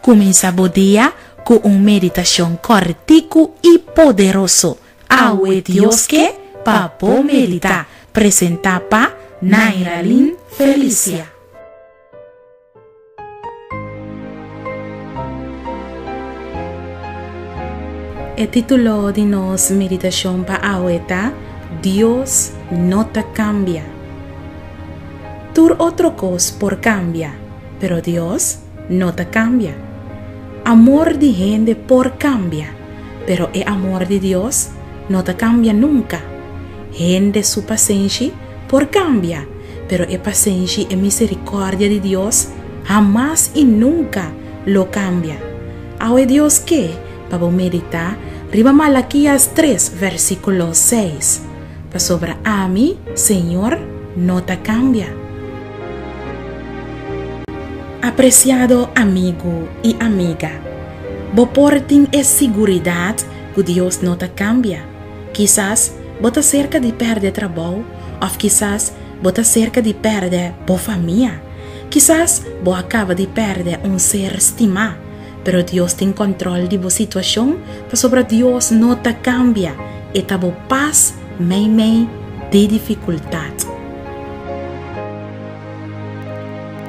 Cuminsa bo dia cu un meditacion corticu y poderoso. Awe Dios ke pa bo medita. Presenta pa Nairaline Felicia. E título di nos meditashon pa awe ta Dios no ta kambia. Tur otro kos por kambia, pero Dios no ta kambia. Amor di hende por kambia, pero e amor di Dios no ta kambia nunka. Hende su pasenshi Por kambia, pero e pasenshi i e miserikòrdia di Dios hamas i nunka lo kambia. Awe Dios ke pa bo meditá riba Malakias tres vèrsikulo seis, Pasobra ami, Señor, no ta kambia. Apresiado amigu i amiga, bo por tin e siguridat ku Dios no ta kambia. Kisas bo ta serka di pèrdè trabou òf kisas bo ta serka di pèrdè bo famia. Kisas bo a kaba di pèrdè un ser stimá, pero Dios tin kòntròl di bo situashon pasobra Dios no ta kambia, e ta bo pas meimei di difikultat.